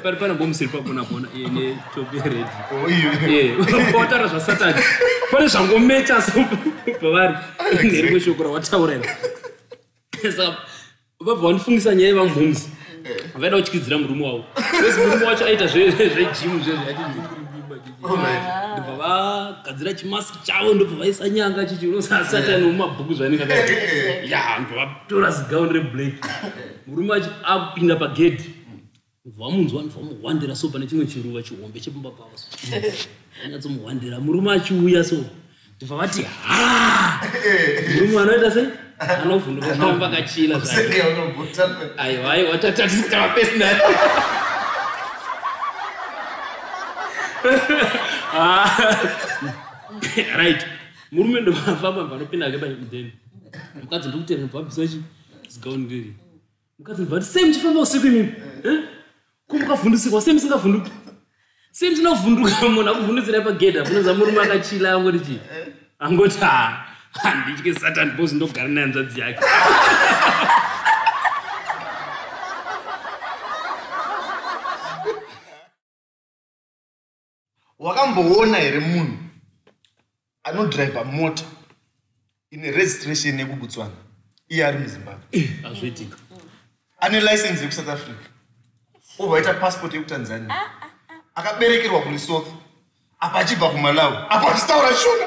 pari pana bomusiri pakona pona ine topi redi pautaura zvasatani pane zvangomecha so pavari nerimwe shoko rawataura iri vabva vandifungisa nyaya yevamhoms vaida kutyidzira murume wavo bcause murume wacho aita zvejimu zvezvandibva vagadzira chimask chavo ndobva vaisa nyanga chichi unosasatani wemumabhuku zvanenge ya ndobva vatora zigauni reblack murume wacho akupinda pagedhi vamunzwa vamuhwandira so pane chimwe chiruva chihombe chepamba pavo so anyatsomuhwandira murume achiuya so ndibva vati ha murume anoita sei anovhunduka pamba kachila aiwa aiwa tatatisikava pesi naye ah. right murume ndovafamba vanopinda ke pamudheni mukadzi ndokutera bvabvisachi zigauniriri mukadzi mubva sei muchifamba usiku imimi eh? ko mukavhundusikwa sei musingavhunduki sei musinavhunduka munhu akuvhundutsirai pagedhi apunonza murume akachila angoti chii angoti ha handitye satan bos ndogara naye nzvadzi yake wakamboona here munhu anodriver mota ine registration yekubutswana iye ari muzimbabwe eh, azviitika ane license yekusouth africa obva aita passport yekutanzania ah, ah, ah. akaberekerwa kulisotho apa achibva kumalawi apa achitaura shona